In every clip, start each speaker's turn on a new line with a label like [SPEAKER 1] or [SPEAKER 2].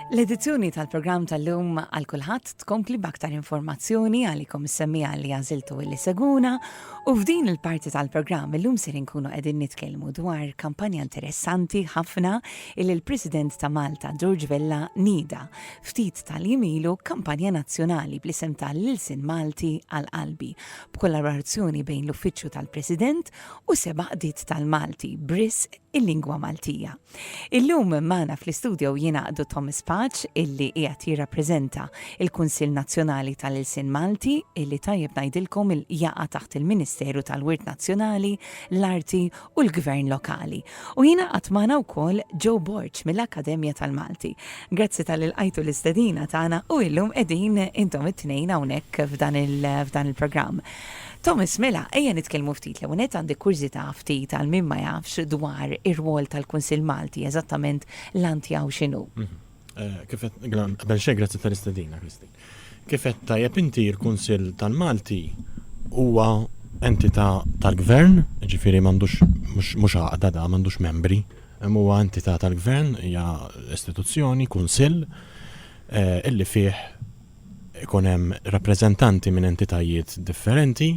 [SPEAKER 1] L-edizzjoni tal-programm tal-lum għal kulħadd tkompli b'aktar informazzjoni għalikom is-semmija li għażiltu li seguna u f'din il-parti tal-programm illum ser inkunu qegħdin nitkellmu dwar kampanja interessanti ħafna il l-President ta' Malta George Vella nida ftit tal-jimilu kampanja nazzjonali bl-isem tal-Lilsin Malti għal qalbi b'kollaborazzjoni bejn l-Uffiċċju tal-President u seba' qdiet tal-Malti Briss il-lingwa Maltija. Illum magħna fl-istudio jingħaqdu Thomas Paċ illi qiegħed jirrappreżenta il-Kunsill Nazzjonali tal-Ilsien Malti illi tajjeb ngħidilkom il jaqa' taħt il-Ministeru tal-Wirt Nazzjonali, l-Arti u l-Gvern Lokali. U jingħaqad magħna wkoll Joe Borg mill-Akkademja tal-Malti. Grazzi tal ilqajtu l-istedina tagħna u illum qegħdin intom it-tnejn hawnhekk f'dan il-programm. Thomas, Mela, ejja nitkellmu ftit. L-ewwel nett għandi kurżità ftit għal min ma jafx dwar ir-rwol tal-Kunsill Malti, eżattament l-għan tiegħu x'inhu. Kif qed,
[SPEAKER 2] qabel xejn grazzi tal-istedina, Christine. Kif qed tajjeb inti l-Kunsill tal-Malti huwa entità tal-Gvern, jiġifieri m'għandux mhux għaqda da, m'għandux membri, imma huwa entità tal-Gvern, hija istituzzjoni, kunsill, illi fih ikun hemm rappreżentanti minn entitajiet differenti,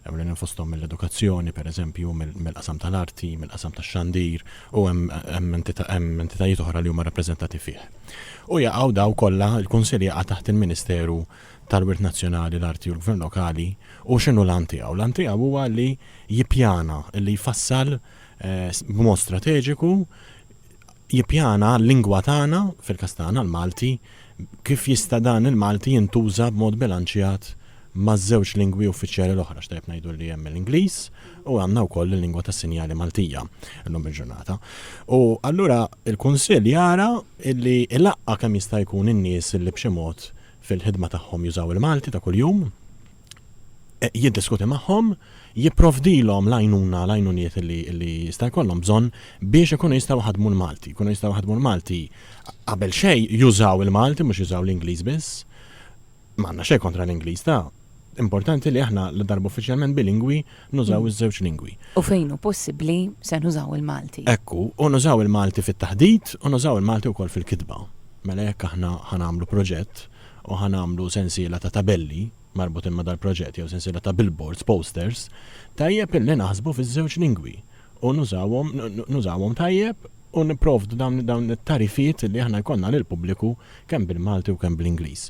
[SPEAKER 2] ewlenin fosthom mill-edukazzjoni, pereżempju, mill-qasam tal-arti, mill-qasam tax-xandir, u hemm entitajiet oħra li huma rappreżentati fih. U jaqgħu dawn kollha, il-Kunsill jaqa' taħt il-Ministeru tal-Wirt Nazzjonali, l-Arti u l-Gvern Lokali, u x'inhu l-għan tiegħu? L-għan tiegħu huwa li jippjana, li jfassal b'mod strateġiku, jippjana l-lingwa tagħna, fil-każ tagħna l-Malti, kif jista' dan il-Malti jintuża b'mod bilanċjat maż-żewġ lingwi uffiċjali l-oħra, x'tajjeb ngħidu li hemm l-Ingliż u għandna wkoll il-lingwa tas-sinjali Maltija llum il-ġurnata. U allura l-Kunsill jara li jlaqqa' kemm jista' jkun in-nies li b'xi mod fil-ħidma tagħhom jużaw il-Malti ta' kuljum, jiddiskuti magħhom, jipprovdilhom l-għajnuna, l-għajnuniet li jista' jkollhom bżonn biex ikunu jistgħu jħaddmu l-Malti. Jkunu jistgħu jħaddmu l-Malti qabel xejn jużaw il-Malti mhux jużaw l-Ingliż biss. Ma għandna xejn kontra l-Ingliż ta', importanti li aħna ladarba uffiċjalment bilingwi nużaw iż-żewġ lingwi. U fejn hu possibbli
[SPEAKER 1] se nużaw il-Malti. Hekk hu, u nużaw
[SPEAKER 2] il-Malti fit-taħdit u nużaw il-Malti wkoll fil-kitba. Mela jekk aħna ħa nagħmlu proġett, u ħa nagħmlu sensiela ta' tabelli marbutin ma' dal-proġett jew sensiela ta' billboards, posters, tajjeb illi naħsbu fiż-żewġ lingwi u nużawhom nużawhom tajjeb u nipprovdu dawn dawn it-tagħrifiet illi aħna jkollna lill-pubbliku kemm bil-Malti u kemm bl-Ingliż.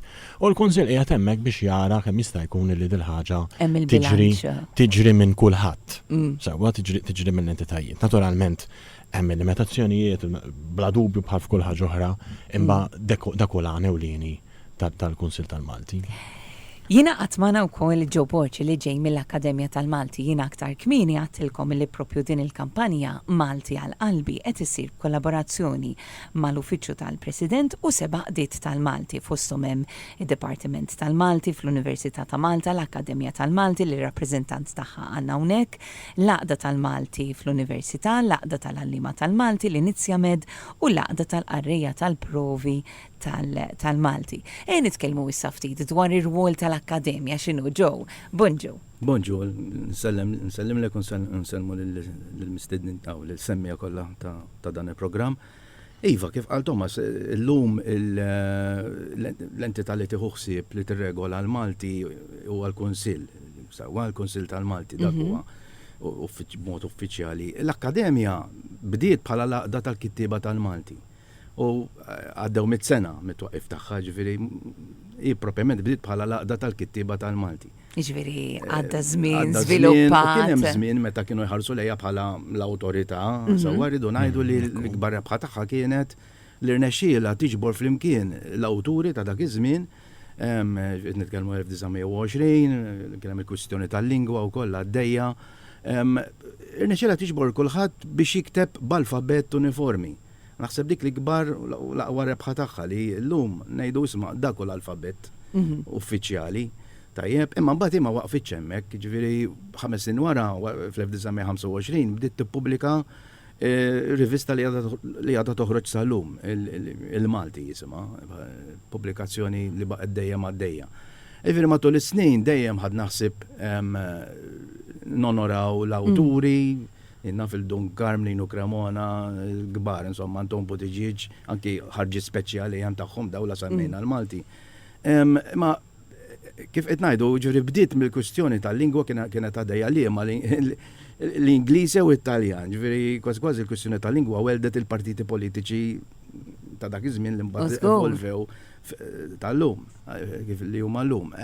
[SPEAKER 2] U l-Kunsill qiegħed hemmhekk biex jara kemm jista' jkun illi dil-ħaġa tiġri tiġri minn kulħadd sewwa tiġri tiġri mill-entitajiet. Naturalment Hemm il-limitazzjonijiet, bla dubju bħal f'kull ħaġa oħra, imma dak hu l-għan ewlieni tal-Kunsill tal-Malti. Jingħaqad
[SPEAKER 1] magħna wkoll Joe Borg li ġej mill-Akkademja tal-Malti. Jiena aktar kmieni għadtilkom li proprju din il-kampanja, Malti għal Qalbi, qed issir b'kollaborazzjoni mal-Uffiċċju tal-President u seba' qdiet tal-Malti, fosthom hemm id-Dipartiment tal-Malti fl-Università ta' Malta, l-Akkademja tal-Malti li r-rappreżentant tagħha għandna hawnhekk, l-Għaqda tal-Malti fl-Università, l-Għaqda tal-Għalliema tal-Malti, l-Inizjamed u l-Għaqda tal-Qarrejja tal-Provi tal-Malti. Ejja nitkellmu issa ftit dwar ir-rwol tal-Akkademja x'inhu ġo. Bonġu. Bonġu,
[SPEAKER 3] nsellimlek u nsellmu lill-mistednin, aw lill-semmiegħa kollha ta' dan il-programm. Iva, kif qal Thomas, illum l-entità li tieħu ħsieb li tirregola l-Malti huwa l-Kunsill, sewwa l-Kunsill tal-Malti, dak huwa b'mod uffiċjali. L-Akkademja bdiet bħala l-Għaqda tal-Kittieba tal-Malti u għaddew mitt sena mit-twaqqif tagħha, jiġifieri hi proprjament bdiet bħala l-Għaqda tal-Kittieba tal-Malti. Jiġifieri eh,
[SPEAKER 1] għadda żmien żviluppat. Kien hemm żmien meta
[SPEAKER 3] kienu jħarsu lejha bħala l-awtorità, mhm. sewwa rridu ngħidu li mhm. l-ikbar rebħa tagħha kienet li rnexxiela tiġbor flimkien l-awturi ta' dak iż-żmien nitkellmu 1920, kien hemm il-kwistjoni tal-lingwa u kollha għaddejja. Irnexxiela tiġbor kulħadd biex jikteb b'alfabett uniformi. Naħseb dik l-ikbar u l-aqwa rebħa tagħha li llum ngħidu isma' dak hu l-alfabett uffiċjali. Tajjeb, imma mbagħad hi ma waqfitx hemmhekk, jiġifieri ħames snin wara, fl-1925, bdiet tippubblika rivista li għadha toħroġ sal-lum, il-Malti jisimha, pubblikazzjoni li baqgħet dejjem għaddejja. Jiġifieri matul is-snin dejjem ħadna ħsieb nonoraw l-awturi, Jien naf il-Dun Karmlin u Cremona l-kbar, insomma, għandhom butiġieġ, anki ħarġiet speċjali għan tagħhom dawn la semmejna l-Malti. Imma kif qed ngħidu, ġifieri bdiet mill-kwistjoni tal-lingwa kienet għaddejja liema l-Ingliż jew it-Taljan. Ġifieri kważi kważi l-kwistjoni tal-lingwa welldet il-partiti politiċi ta' dak iż-żmien li mbagħad evolvew tal-lum, kif li huma llum.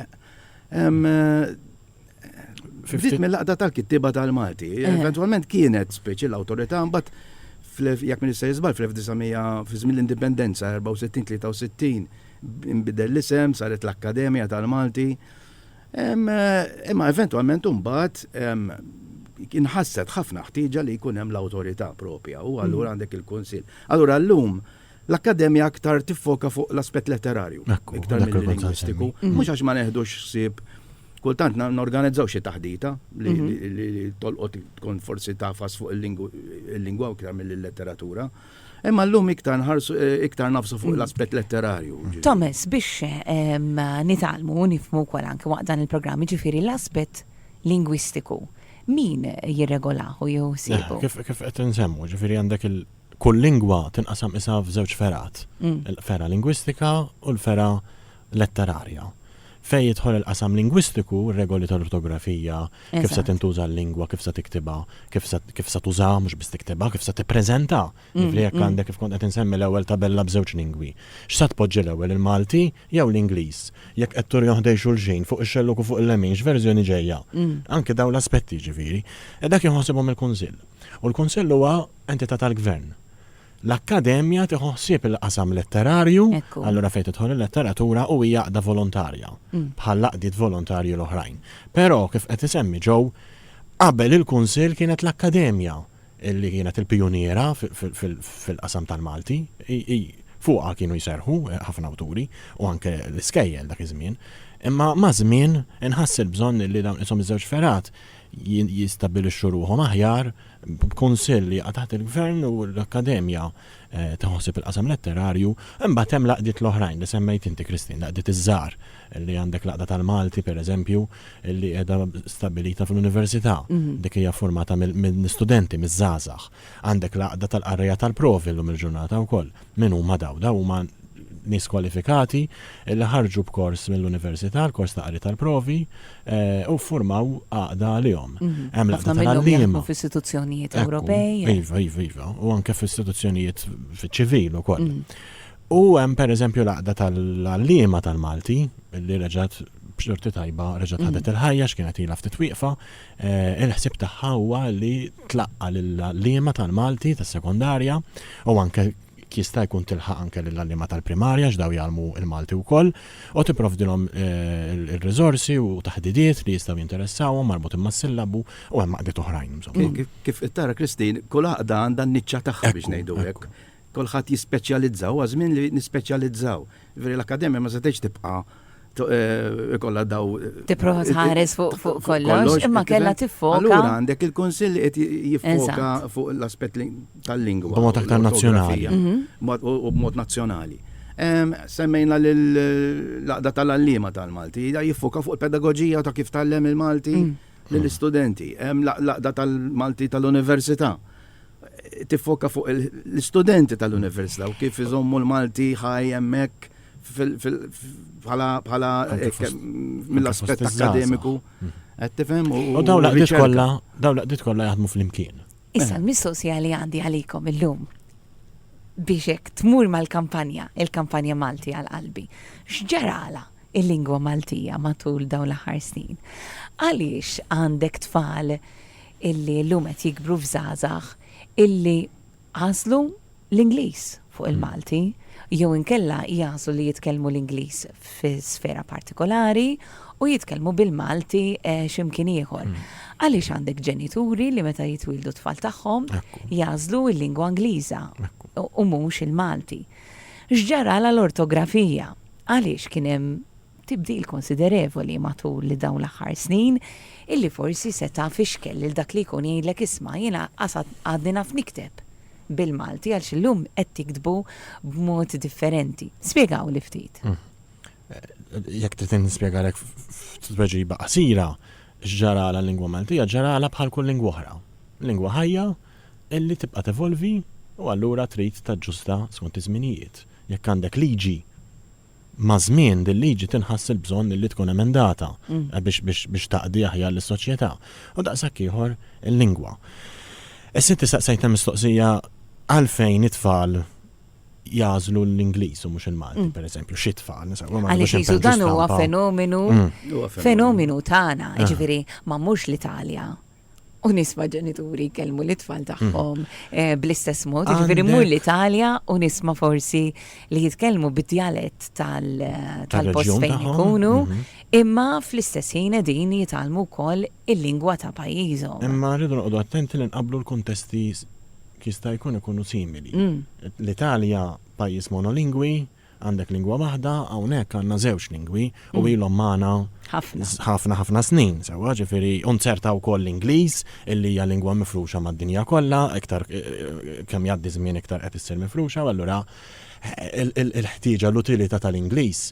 [SPEAKER 3] Ftit mill-laqda tal-kittieba tal-Malti. Eh. Eventualment kienet speċi l-awtorità mbagħad jekk min se jiżbal fl-1900 fi żmien l-indipendenza 64-63 inbidel l-isem saret l-Akkademja tal-Malti. Eh, imma eventualment mbagħad kien ħasset ħafna ħtieġa li jkun hemm l-awtorità propja u allura mm. għandek il-kunsill. Allura llum L-Akkademja aktar tiffoka fuq l-aspett letterarju, iktar milli lingwistiku, mhux għax ma neħdux ħsieb, kultant norganizzaw xi taħdita li tolqot tkun forsi tagħfas fuq il-lingwa iktar milli l-letteratura, imma llum iktar nħarsu iktar nagħfsu fuq l-aspett letterarju. Thomas, biex
[SPEAKER 1] nitgħallmu u nifhmu wkoll anke waqt dan il-programm, jiġifieri l-aspett lingwistiku, min jirregolahu jew isibu? Kif qed insemmu,
[SPEAKER 2] jiġifieri għandek Kull lingwa tinqasam qisha f'żewġ fergħat, il-fergħa lingwistika u l-fergħa letterarja. Fejn jidħol il-qasam lingwistiku, ir-regoli tal-ortografija, kif se tintuża l-lingwa, kif se tiktibha, kif se tużaha, mhux biss tiktibha, kif se tippreżentha, jiġifieri jekk għandek kif kont qed insemmi l-ewwel tabella b'żewġ lingwi, x'se tpoġġi l-ewwel, il-Malti jew l-Ingliż? Jekk qed turihom ħdejn xulxin, fuq ix-xellug u fuq il-lemin, x'verżjoni ġejja? Anke dawn l-aspetti, jiġifieri. Dak jieħu ħsiebhom il-Kunsill. U l-Kunsill huwa Entità tal-Gvern. L-Akkademja tieħu ħsieb il-qasam letterarju, allura fejn tidħol il-letteratura u hija għaqda volontarja, bħall-għaqdiet volontarji l-oħrajn. Però, kif qed isemmi Joe, qabel il-Kunsill kienet l-Akkademja li kienet il-pijuniera fil-qasam tal-Malti. Hi fuqha kienu jserrħu ħafna awturi u anke l-iskejjel dak iż-żmien. Imma maż-żmien inħass il-bżonn li dawn qishom iż-żewġ fergħat jistabbilixxu ruħhom aħjar b'Kunsill li jaqa' taħt il-Gvern u l-Akkademja tiħosib il-qasam letterarju. Imbagħad hemm l-għaqdiet l-oħrajn li semmejt inti Christine, l-għaqdiet iż-żgħar, li għandek l-Għaqda tal-Malti, pereżempju, li qiegħda stabbilita fl-Università. Dik hija ffurmata minn studenti, miż-żgħażagħ. Għandek l-għaqda tal-qarrejja tal-provi llum il-ġurnata wkoll. Min huma dawn? Dawn huma nies kwalifikati li ħarġu b'kors mill-università, l-kors ta' qari tal-provi, u ffurmaw għaqda għalihom. Hemm l-għaqda tal-għalliema. Ħafna minnhom jaħdmu f'istituzzjonijiet
[SPEAKER 1] Ewropej. Iva, iva, iva. U
[SPEAKER 2] anke f'istituzzjonijiet fiċ-ċivil ukoll. U hemm pereżempju l-għaqda tal-għalliema tal-Malti li reġgħet b'xorti tajba reġgħet ħadet il-ħajja x'kienet ilha ftit wieqfa, Il-ħsieb tagħha huwa li tlaqqa' lill-għalliema tal-Malti tas-sekondarja u anke jekk jista' jkun tilħaq anke lill-għalliema tal-primarja għax dawn jgħallmu l-Malti wkoll u tipprovdilhom ir-riżorsi u taħdidiet li jistgħu jinteressawhom marbutin mas-sillabu u hemm għaqdiet oħrajn insomma. Kif qed tara
[SPEAKER 3] Christine, kull għaqda għandha n-niċċa tagħha biex ngħidu hekk. Kulħadd jispeċjalizza, huwa żmien li nispeċjalizzaw. Jiġifieri l-Akkademja ma setgħetx tibqa' ikollha daw. Tipprova tħares
[SPEAKER 1] fuq kollox, imma kellha tiffoka. Allura għandek il-Kunsill
[SPEAKER 3] li qed jiffoka fuq l-aspett tal-lingwa. B'mod aktar nazzjonali.
[SPEAKER 2] U
[SPEAKER 3] b'mod nazzjonali. Semmejna l-Għaqda tal-Għalliema tal-Malti, hija jiffoka fuq il-pedagoġija ta' kif tgħallem il-Malti lill-istudenti. Hemm l-Għaqda tal-Malti tal-Università. tiffoka fuq l-istudenti tal-Università u kif iżommu l-Malti ħaj hemmhekk bħala mill-aspett akkademiku. Qed tifhem? U dawn l-għaqdiet kollha,
[SPEAKER 2] dawn l-għaqdiet kollha jaħdmu flimkien. Issa l-mistoqsija
[SPEAKER 1] li għandi għalikom illum biex hekk tmur mal-kampanja, il-kampanja Malti għal qalbi. X'ġarala il-lingwa Maltija matul dawn l-aħħar snin? Għaliex għandek tfal illi illum qed jikbru f'żgħażagħ illi għażlu l-Ingliż fuq il-Malti jew inkella jagħżlu li jitkellmu l-Ingliż fi sfera partikolari u jitkellmu bil-Malti eh, x'imkien ieħor. Mm. Għaliex għandek ġenituri li meta jitwildu tfal tagħhom jażlu l-lingwa Ingliża u mhux il-Malti. X'ġara l-ortografija? Għaliex kien hemm tibdil konsiderevoli matul li dawn l-aħħar snin, illi forsi seta' fixkel lil dak li jkun jgħidlek isma' jiena lanqas għadni naf nikteb bil-Malti għaliex illum qed tiktbu b'mod differenti. Spjegawli ftit.
[SPEAKER 2] Jekk trid nispjegalek f'tweġiba qasira x'ġaralha l-lingwa Maltija, ġaralha bħal kull lingwa oħra. Lingwa ħajja illi tibqa' tevolvi u allura trid taġġusta skont iż-żminijiet. Jekk għandek liġi, Maż-żmien din liġi tinħass il-bżonn illi tkun emendata biex taqdi aħjar lis-soċjetà. U daqshekk ieħor il-lingwa. Issa inti staqsejtna mistoqsija għalfejn it-tfal jażlu l-Ingliż u mhux il-Malti, mm. pereżempju, xi tfal. Għaliex dan
[SPEAKER 1] huwa fenomenu mm. fenomenu tagħna, ah. jiġifieri ma mhux l-Italja u nisma ġenituri jkellmu li tfal tagħhom mhm. eh, bl-istess mod, jiġifieri mur l-Italja u nisma forsi li jitkellmu bid-djalett tal-post eh, fejn ikunu, mhm. imma fl-istess ħin qegħdin jitalmu wkoll il-lingwa ta' pajjiżhom. Imma rridu noqogħdu
[SPEAKER 2] attenti li nqablu l-kuntesti jista' jkun ikunu simili. Mm. L-Italja pajjiż monolingwi, Għandek lingwa waħda, hawnhekk għandna żewġ lingwi u ilhom magħna ħafna ħafna snin sewwa, ġifieri u nzerta wkoll l-Ingliż illi hija lingwa mifruxa mad-dinja kollha, iktar kemm jgħaddi żmien iktar qed issir mifruxa u allura il-ħtieġa l-utilità tal-Ingliż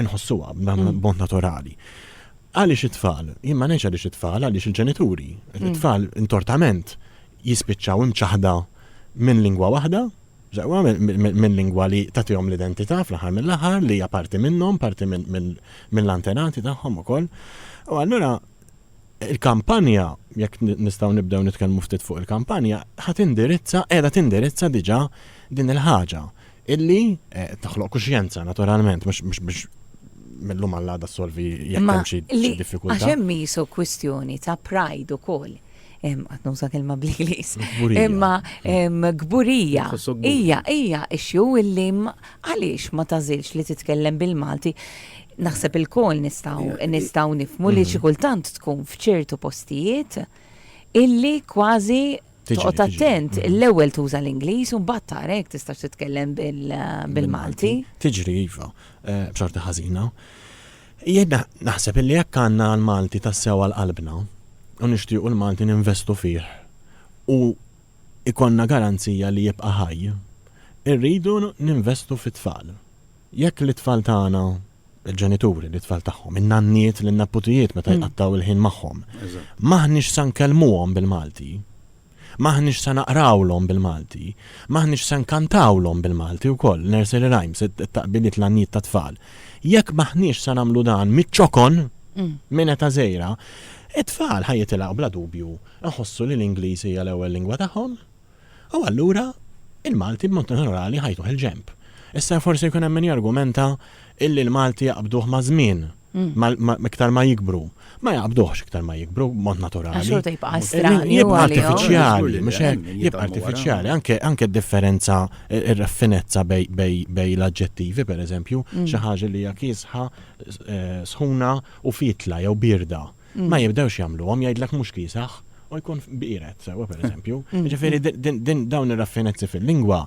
[SPEAKER 2] nħossuha mm. b'mod naturali. Għaliex it-tfal, jien ma ngħidx għaliex it-tfal, għaliex il-ġenituri, mm. it-tfal intortament jispiċċaw imċaħda minn lingwa waħda, ġewwa minn lingwa li tagħtihom l-identità fl-aħħar mill-aħħar li hija parti minnhom, parti mill-antenati tagħhom ukoll. U allura Il-kampanja, jekk nistgħu nibdew nitkellmu ftit fuq il-kampanja, ħa tindirizza, qiegħda tindirizza diġà din il-ħaġa illi toħloq kuxjenza naturalment, mhux biex mill-lum għall-għada ssolvi jekk hemm xi diffikultà. Għax hemm isu kwistjoni
[SPEAKER 1] ta' pride ukoll. Qatt nuża kelma bl-Ingliż. Imma kburija. Hija, hija issue illi għaliex ma tażilx li titkellem bil-Malti. Naħseb ilkoll nistgħu nistgħu nifmu li xi kultant tkun f'ċertu postijiet illi kważi toqgħod attent l-ewwel tuża l-Ingliż u mbagħad tara jekk tistax titkellem bil-Malti. Tiġri iva,
[SPEAKER 2] eh, b'xorta ħażina. Jien naħseb illi jekk għandna l-Malti tassew għal qalbna u nixtiequ l-Malti ninvestu fih u ikonna garanzija li jibqa' ħaj, irridu ninvestu fit-tfal. Jekk lit-tfal tagħna, il-ġenituri, lit-tfal tagħhom, in-nanniet lin-neputijiet meta jqattgħu l-ħin magħhom, m'aħniex se nkellmuhom bil-Malti, m'aħniex se naqrawlhom bil-Malti, m'aħniex se nkantawlhom bil-Malti wkoll, nursery rhymes, it-taqbiliet, l-għannijiet tat-tfal. Jekk m'aħniex se nagħmlu dan miċ-ċokon, minn età żgħira, it-tfal ħa jitilgħu bla dubju iħossu li l-Ingliż hija l-ewwel lingwa tagħhom U allura il-Malti b'mod naturali ħajtuh il-ġenb. Issa forsi jkun hemm min jargumenta illi l-Malti jaqbduh maż-żmien, iktar ma jikbru. Ma jaqbduhx iktar ma jikbru b'mod naturali. Għax xorta jibqa' strani.
[SPEAKER 1] Jibqa' artifiċjali,
[SPEAKER 2] mhux hekk? Jibqa' artifiċjali, anke d-differenza, ir-raffinezza bejn l-aġġettivi, pereżempju, xi ħaġa li hija kiesħa, sħuna u fietla jew bierda. ma jibdewx jagħmluhom jgħidlek mhux kiesaħ u jkun biret sewwa pereżempju. Mm. Ġifieri din dawn ir-raffinezzi fil-lingwa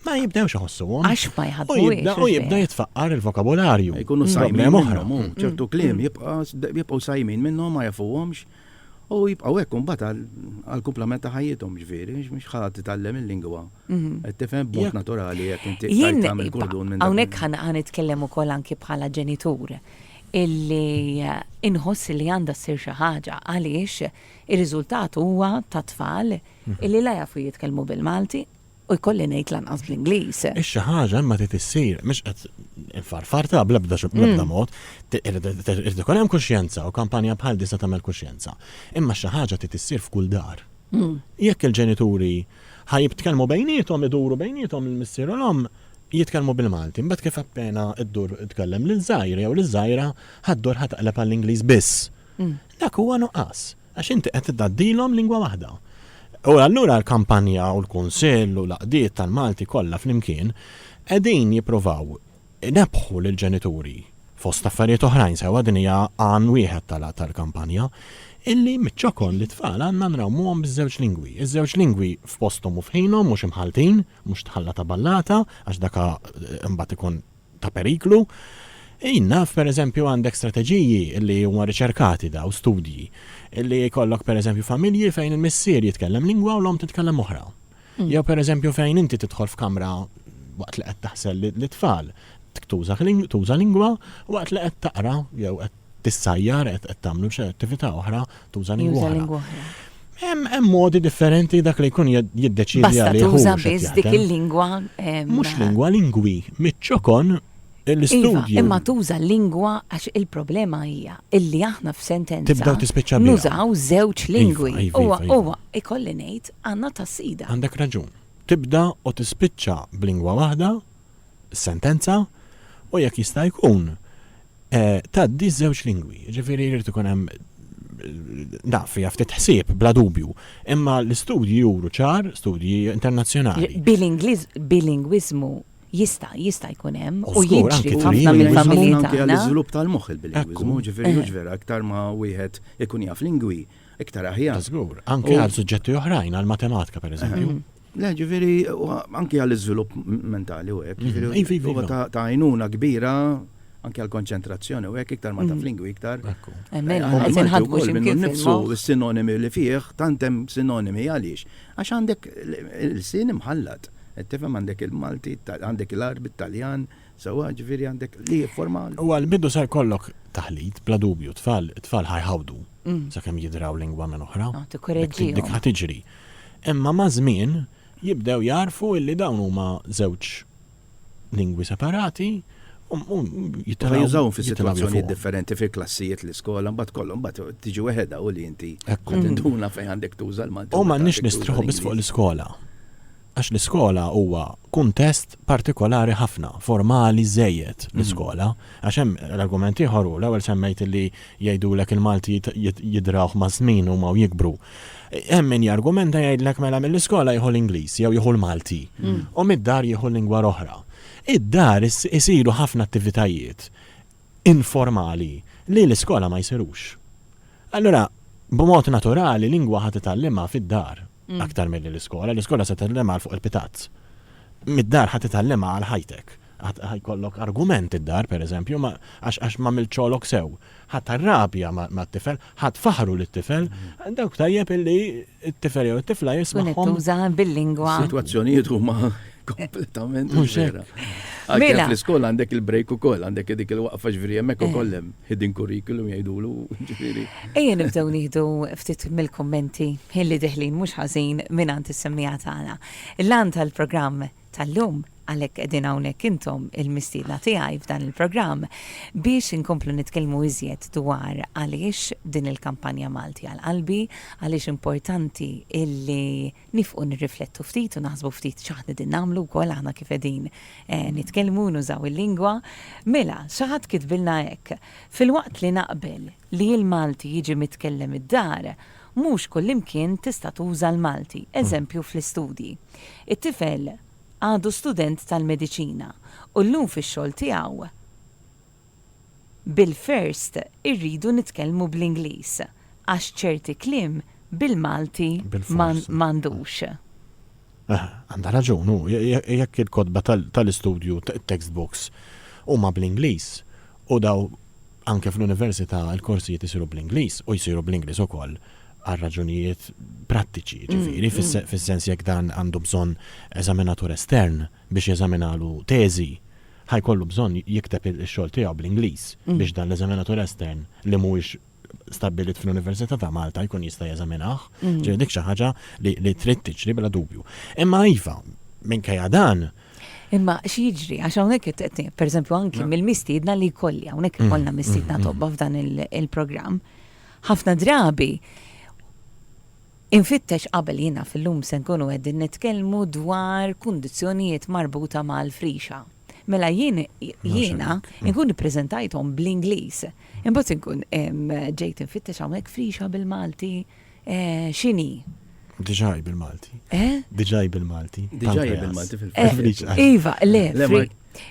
[SPEAKER 2] ma jibdewx iħossuhom. Għax ma jħaddu.
[SPEAKER 1] U jibda jitfaqqar
[SPEAKER 2] il-vokabularju. Jkunu sajmin
[SPEAKER 3] oħra. Mm. Mm. ċertu kliem jibqgħu sajmin minnhom ma jafuhomx. U jibqgħu hekk imbagħad għall-kumplament ta' ħajjithom ġifieri, mhux ħadd titgħallem il-lingwa. Mhm. Qed tifhem b'mod naturali jekk inti tagħmel kurdun minn. Hawnhekk ħa nitkellem
[SPEAKER 1] ukoll anki bħala ġenitur. illi inħoss li għandha ssir xi ħaġa għaliex ir-riżultat huwa ta' tfal illi la jafu jitkellmu bil-Malti u jkolli ngħid lanqas bl-Ingliż. Ix-xi ħaġa imma
[SPEAKER 2] trid issir, mhux qed infarfartha bl-ebda bl-ebda mod, irid ikun hemm kuxjenza u kampanja bħal din se tagħmel kuxjenza. Imma xi ħaġa trid issir f'kull dar. Jekk il-ġenituri Ħa jibtkellmu bejniethom, iduru bejniethom il-missier u l-omm, jitkellmu bil-Malti. Imbagħad kif appena ddur tkellem liż-żgħir jew liż-żgħira, ħa ddur ħa taqleb għall-Ingliż biss. Dak huwa nuqqas, għax inti qed tgħaddilhom lingwa waħda. U allura l-kampanja u l-kunsill u l-għaqdiet tal-Malti kollha flimkien qegħdin jippruvaw Inebħu lill-ġenituri, fost affarijiet oħrajn sewwa din hija għan wieħed tal-kampanja, illi miċ-ċokon lit-tfal għandna nrawmuhom biż-żewġ lingwi. Iż-żewġ lingwi f'posthom u f'ħinhom, mhux imħalltin, mhux tħalla ta' ballata, għax dak imbagħad ikun ta' periklu. Jien naf, pereżempju, għandek strateġiji illi huma riċerkati dawn, studji, illi jkollok pereżempju familji fejn il-missier jitkellem lingwa u l-omm titkellem oħra. Jew pereżempju fejn inti tidħol f'kamra waqt li qed taħsel lit-tfal, tuża lingwa waqt li qed taqra jew qed tissajjar qed tagħmlu xi attività oħra tuża lingwa oħra. Hemm modi differenti dak li jkun jiddeċidi għalih. Tuża biss
[SPEAKER 1] dik il-lingwa. Mhux lingwa,
[SPEAKER 2] lingwi. Miċ-ċokon
[SPEAKER 1] Iva, imma tuża
[SPEAKER 2] l-lingwa
[SPEAKER 1] għax il-problema hija illi aħna f'sentenza. Tibdew tispiċċa biha. Nużaw
[SPEAKER 2] żewġ
[SPEAKER 1] lingwi. Huwa huwa
[SPEAKER 2] ikolli ngħid
[SPEAKER 1] għandna tas-sida. Għandek raġun.
[SPEAKER 2] Tibda u tispiċċa b'lingwa waħda, sentenza, u jekk jista' jkun tgħaddi żewġ lingwi. Ġifieri jrid ikun hemm naf fija ftit ħsieb bla dubju, imma l-istudji juru ċar, studji internazzjonali. Bil-Ingliż,
[SPEAKER 1] bil-lingwiżmu Jista', jista' jkun hemm u jiġri f'ħafna mill-familji
[SPEAKER 2] tagħna.
[SPEAKER 1] Anke għall-iżvilupp tal-moħħ il-bililinguiżmu,
[SPEAKER 3] ġifieri mhux vera
[SPEAKER 2] iktar ma
[SPEAKER 3] wieħed ikun jaf lingwi, iktar aħjar. Żgur, anke għal
[SPEAKER 2] suġġetti oħrajn, għall-matematika pereżempju. Le, ġifieri
[SPEAKER 3] anke għall-iżvilupp mentali u hekk, ġifieri huwa ta' għajnuna kbira anke għall-konċentrazzjoni u hekk iktar ma taf lingwi iktar.
[SPEAKER 2] Ekku.
[SPEAKER 1] Qed inħadmu x'imkien nifsu s-sinonimi
[SPEAKER 3] li
[SPEAKER 1] fih,
[SPEAKER 3] tant hemm sinonimi għaliex. Għax għandek il-sin imħallat, Qed tifhem għandek il-Malti, għandek l-Għarbi, t-Taljan, sewwa, ġifieri għandek li jifforma. U għal bidu se jkollok
[SPEAKER 2] taħlit, bla dubju, t-tfal, it-tfal ħa jħawdu sakemm jidraw lingwa minn oħra. Ah, tikkoreġġihom. Dik ħa
[SPEAKER 1] tiġri.
[SPEAKER 2] Imma maż-żmien jibdew jagħrfu illi dawn huma żewġ lingwi separati Jittama jużawhom
[SPEAKER 3] fi situazzjonijiet differenti fi klassijiet l-iskola, mbagħad kollhom mbagħad tiġi weħedha u li inti tinduna fejn għandek tuża l-Malti. U m'għandniex nistrieħu biss
[SPEAKER 2] fuq l-iskola. Għax l-iskola huwa kuntest partikolari ħafna, formali żejjed l-iskola. Għax hemm l-argument ieħor hu l-ewwel semmejt li jgħidulek il-Malti jidrawh ma' żmien huma u jikbru. Hemm min jargumenta jgħidlek mela mill-iskola jieħu l-Ingliż jew jieħu l-Malti u mid-dar jieħu lingwa oħra. Id-dar isiru ħafna attivitajiet informali li l-iskola ma jsirux. Allura, b'mod naturali lingwa ħa titgħallimha fid-dar aktar milli l-iskola. L-iskola se tgħallimha għal fuq il-pitazz. Mid-dar ħa titgħallimha għal ħajtek. Ħa jkollok argument id-dar, pereżempju, għax m'għamilt xogħlok sew. Ħadd arrabja mat-tifel, ħadd faħħru lit-tifel, dawk tajjeb illi t-tifel jew it-tifla jismagħhom. Tkun qed tuża bil-lingwa.
[SPEAKER 1] Sitwazzjonijiet huma
[SPEAKER 3] kompletament mhux vera. Mela.
[SPEAKER 1] Fl-iskola għandek
[SPEAKER 3] il-break ukoll, għandek dik il-waqfa ġifieri hemmhekk ukoll hemm hidden curriculum jgħidulu ġifieri. Ejja nibdew
[SPEAKER 1] nieħdu ftit mill-kummenti ħilli deħlin mhux ħażin mingħand is-semmiegħa tagħna. Il-għan tal-programm tal-lum, għalhekk qegħdin hawnhekk intom il-mistiedna tiegħi f'dan il-programm biex inkomplu nitkellmu iżjed dwar għaliex din il-kampanja Malti għal Qalbi, għaliex importanti illi nifqu nirriflettu ftit u naħsbu ftit x'aħna qegħdin nagħmlu wkoll aħna kif qegħdin nitkellmu u nużaw il-lingwa. Mela, xi ħadd kitbilna hekk, Filwaqt li naqbel Li l-Malti jiġi mitkellem id-dar, mhux kullimkien tista' tuża l-Malti, eżempju fl-istudji. It-tifel għadu student tal-mediċina u llum fix-xogħol tiegħu bil-first irridu nitkellmu bl-Ingliż għax ċerti kliem bil-Malti m'għandux.
[SPEAKER 2] Għandha raġun hu, jekk il-kotba tal-istudju, it-textbooks, huma bl-Ingliż u dawn Anke fl-università l-korsijiet isiru bl-Ingliż u jsiru bl-Ingliż ukoll għal raġunijiet prattiċi, jiġifieri fis-sens jekk dan għandu bżonn eżaminatur estern biex jeżaminalu teżi, ħa jkollu bżonn jikteb ix-xogħol tiegħu bl-Ingliż biex dan l-eżaminatur estern li mhuwiex stabbilit fl-Università ta' Malta jkun jista' jeżaminah. Ġifieri dik xi ħaġa li trid tiġri bla dubju. Imma iva, minkejja dan, Imma xi
[SPEAKER 1] jiġri, għax hawnhekk qed pereżempju anki mill-mistiedna li jkolli hawnhekk ikollna mistiedna tobba f'dan il-programm. Ħafna drabi infittex qabel jiena fil-lum se nkunu qegħdin nitkellmu dwar kundizzjonijiet marbuta mal-frixa. Mela jien jiena nkun ippreżentajthom bl-Ingliż. Imbagħad inkun ġejt infittex hawnhekk frixa bil-Malti. x'inhi? Diġà
[SPEAKER 2] hi bil-Malti. Eh? Diġà hi bil-Malti. Diġà hi
[SPEAKER 3] bil-Malti fil-fatt. Eh,
[SPEAKER 1] iva, le,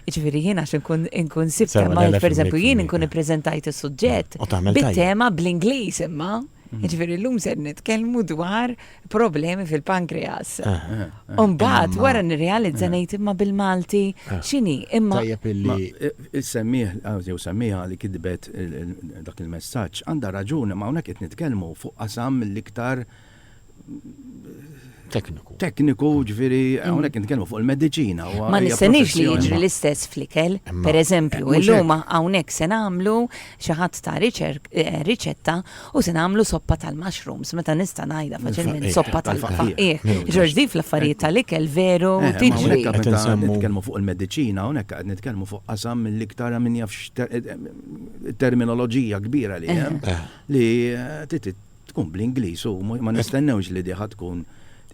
[SPEAKER 1] Ġifieri jiena għax inkun sibta ma pereżempju jien inkun ippreżentajt is-suġġett bit-tema bl-Ingliż imma. Mm. Ġifieri llum se nitkellmu dwar problemi fil-pankreas. Eh, eh. Umbat, eh, wara nirrealizza eh. ngħid imma bil-Malti eh. x'inhi imma tajjeb illi
[SPEAKER 2] issemmieh
[SPEAKER 3] jew semmiha li kitbet dak il-messaġġ għandha raġuni ma hawnhekk qed nitkellmu fuq qasam l-iktar tekniku. Tekniku, ġviri, għonek mm. nitkellmu fuq il-medicina. Ma nistenix li
[SPEAKER 1] jiġri l-istess flikel, per eżempju, il-luma għonek se namlu Xi ħadd ta riċetta u se nagħmlu soppa tal-mushrooms meta nista' ngħidha faċilment soppa tal-faqqieħ. Ġorġ di fl-affarijiet tal-ikel veru eh, tiġri. Qed nitkellmu fuq
[SPEAKER 3] il-mediċina hawnhekk qed nitkellmu fuq qasam mill-iktar min jaf terminoloġija kbira li hemm eh. Eh. li tkun bl-Ingliż u ma nistennewx li diħa tkun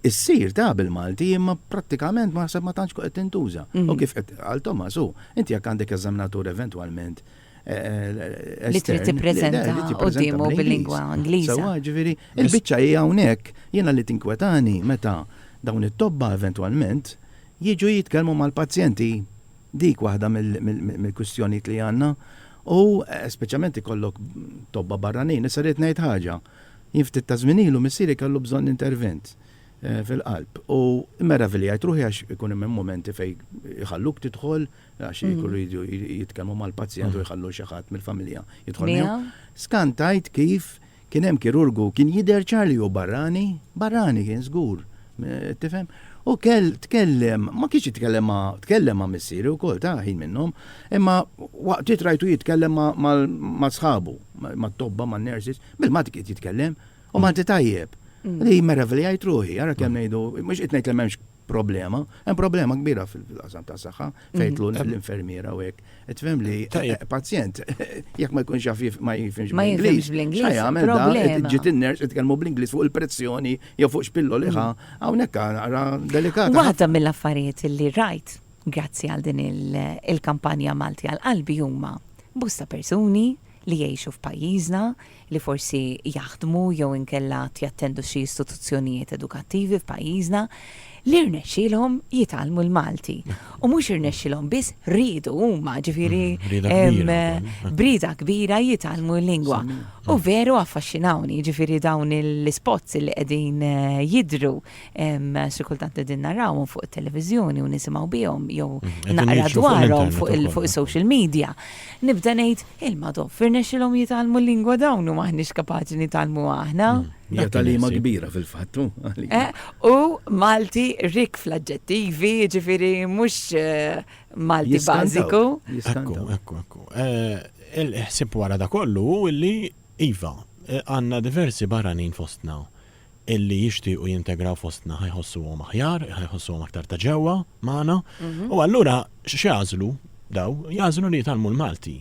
[SPEAKER 3] Issir ta' bil-Malti imma prattikament ma ħseb ma tantx qed tintuża. U mhm. kif qed għal Tomasu, inti jekk għandek eżaminatur eventwalment
[SPEAKER 1] li trid tippreżenta quddiemu bil-lingwa Ingliża. Sewa, ġifieri,
[SPEAKER 3] il-biċċa hija hawnhekk jiena li tinkwetani meta dawn it-tobba eventwalment jiġu jitkellmu mal-pazjenti. Dik waħda mill-kwistjonijiet li għandna u speċjalment ikollok tobba barranin. Issa rrid ngħid ħaġa. Jien ftit ta' żmien ilu missieri kellu bżonn intervent fil-qalb u meraviljajt ruħi għax ikun hemm mumenti fejn iħalluk tidħol għax ikunu jridu jitkellmu mal-pazjent u jħallu xi ħadd mill-familja jidħol miegħu. Scan tgħid kif kien hemm kirurgu kien jidher ċar li hu barrani, barrani kien żgur, tifhem? U kell tkellem, ma kienx jitkellem ma tkellem ma missieri wkoll ta' ħin minnhom, imma waqt li trajtu jitkellem ma' sħabu, ma' tobba, ma' nurses, bil-Malti kien jitkellem, u Malti tajjeb. Mm. Li meravilja jtruħi, għara kemm mm. ngħidu, mhux qed ngħid li m'hemmx problema, hemm problema kbira fil-qasam ta' saħħa fejn tlu l-infermiera u hekk. Qed fhem li pazjent jekk ma jkunx jaf ma jifhimx bl-Ingliż. Ma jagħmel dan ġiet in-ners jitkellmu bl-Ingliż fuq il-pressjoni jew fuq x'pillo liħa hawnhekk ara delikat. Waħda mill-affarijiet
[SPEAKER 1] li rajt grazzi għal din il-kampanja Malti għal qalbi huma bosta persuni li jgħixu f'pajjiżna, li forsi jaħdmu jew inkella għad jattendu xi istituzzjonijiet edukattivi f'pajjiżna, li rnexxielhom jitgħallmu l-Malti. U mhux irnexxielhom biss, riedu huma, ġifieri brieda kbira jitgħallmu l-lingwa. U veru affaxxinawni, ġifieri dawn l-ispots li qegħdin jidhru Xi kultant qegħdin narawhom fuq it-televiżjoni u nisimgħu bihom jew mhm. naqra dwarhom fuq is-social media. Nibda ngħid il-madhom firnexxilhom jitgħallmu l-lingwa dawn u maħniex kapaċi nitgħallmu aħna. Mhm. Hija talima
[SPEAKER 3] kbira fil-fattu. Eh, u
[SPEAKER 1] Malti rik fl-aġġettivi, ġifiri mhux eh, Malti bażiku. Ekku, ekku,
[SPEAKER 2] ekku. Eh, il-ħsib wara da kollu illi iva għandna diversi barranin fostna illi jixtiequ jintegraw fostna ħa jħossuhom aħjar, ħa jħossuhom aktar ta' ġewwa magħna. U allura x'jagħżlu daw? Jagħżlu li jitgħallmu l-Malti.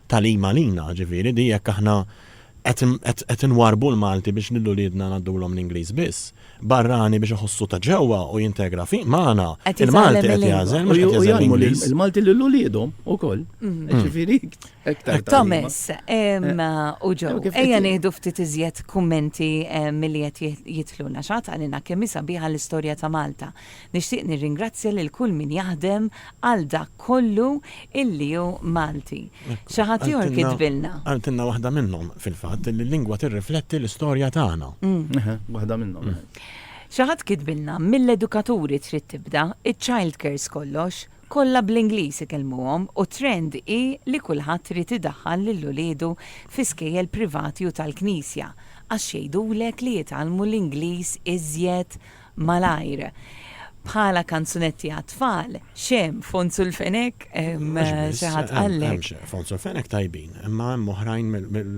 [SPEAKER 2] Tagħlim għalina, ġifieri, di jekk aħna qed inwarrbu l-Malti biex lil uliedna ngħaddulhom l-Ingliż biss. Barrani biex iħossu ta' ġewwa u jintegra magħna, il-Malti qed jagħżel, mhux qed jagħżel l-Ingliż. Il-Malti lil uliedhom
[SPEAKER 3] ukoll. Ġifieri. Iktar Thomas,
[SPEAKER 1] u ġo, ejja nieħdu ftit iżjed kummenti milli qed jidħlu naxat għalina kemm hi sabiħa l-istorja ta' Malta. Nixtieq nirringrazzja lil kull min jaħdem għal dak kollu illi hu Malti. Xi ħadd ieħor kitbilna. Qaltilna waħda minnhom,
[SPEAKER 2] fil-fatt, li l-lingwa tirrifletti l-istorja tagħna. Waħda
[SPEAKER 3] minnhom. Xi ħadd
[SPEAKER 1] kitbilna, mill-edukaturi trid tibda, iċ-childcares kollox, Kollha bl-Ingliż ikellmuhom u t-trend hi li kulħadd irid idaħħal lil uliedu fi skejjel privati u tal-Knisja għax jgħidulek li jitgħallmu l-Ingliż iżjed malajr. Bħala kanzunetti għat-tfal, x'hemm, Fons u l-Fenek? Xi ħadd qallek? Mhux biss, hemm, Fons u l-Fenek tajbin,
[SPEAKER 2] imma hemm oħrajn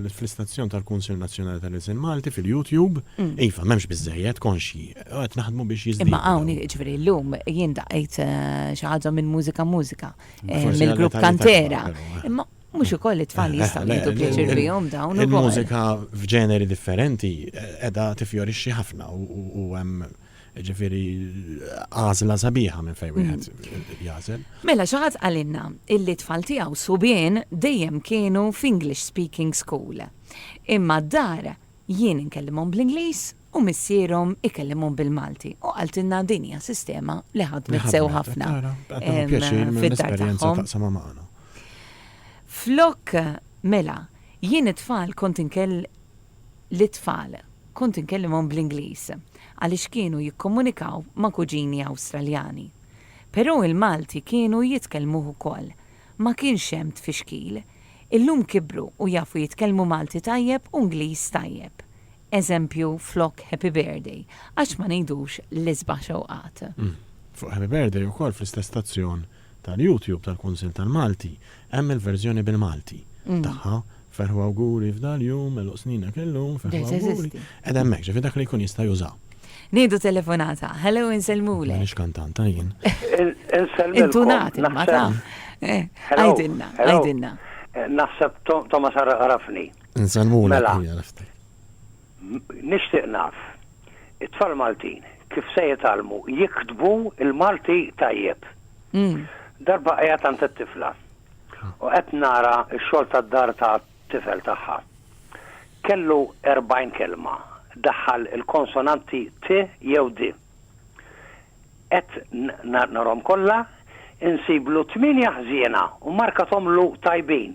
[SPEAKER 2] fl-istazzjon tal-Kunsill Nazzjonali tal-Ilsien Malti fil-YouTube. Iva, m'hemmx biżżejjed, konxji. Għad naħdmu biex jizdin. Imma għawn, ġveri, l-lum
[SPEAKER 1] jien daqqajt eh, xaħġa minn mużika mużika, eh, minn grupp kantera. Eh. Imma mux ukoll it-tfal jistaw jidu pjaċir bijom dawn. Il-mużika f'ġeneri
[SPEAKER 2] differenti edha tifjorixxi ħafna u hemm ġifiri għazla sabiħa minn fejn mm. wieħed jazel. Mela xaħat għalinna
[SPEAKER 1] illi tfal tiegħu subien dejjem kienu f'English speaking school. Imma d-dar jien inkellimhom bl-Ingliż u missierhom ikellimhom bil-Malti u qaltilna din hija sistema li ħadmet sew ħafna.
[SPEAKER 2] Fid-dar tagħhom. Flok
[SPEAKER 1] mela, jien it-tfal kont inkell lit-tfal kont inkellimhom bl-Ingliż għaliex kienu jikkomunikaw ma' kuġini Awstraljani. Però il-Malti kienu jitkellmuh ukoll. Ma kienx hemm tfixkil. Illum kibru u jafu jitkellmu Malti tajjeb u Ingliż tajjeb. Eżempju, flok Happy Birthday, għax ma ngħidux l-isbaħ xewqat? Fuq Happy
[SPEAKER 2] Birthday ukoll fl-istess stazzjon tal-YouTube tal-Kunsill tal-Malti hemm il-verżjoni bil-Malti tagħha, Ferħu Awguri f'dal-jum, Għeluq Sninek illum, Ferħu Awguri, qiegħda hemmhekk, ġifieri dak li jkun jista' juża. Nieħdu
[SPEAKER 1] telefonata. Hello, insellmulek. M'iniex kantanta jien.
[SPEAKER 2] Insellmilkom.
[SPEAKER 1] Intunat imma taf. Għidilna, għidilna. Naħseb
[SPEAKER 4] Thomas għarafni. Nsalmulek Mela.
[SPEAKER 2] hija nifti.
[SPEAKER 4] M- Nixtieq naf, it-tfal Maltin kif se jitgħallmu jiktbu l-Malti tajjeb? Mm. Darba qiegħed għand it-tifla u qed nara x-xogħol tad-dar tat-tifel tagħha. Kellu 40 kelma, daħħal il-konsonanti t jew d. Qed n- na- narhom kollha, insiblu tmienja ħżiena u markathomlu tajbin,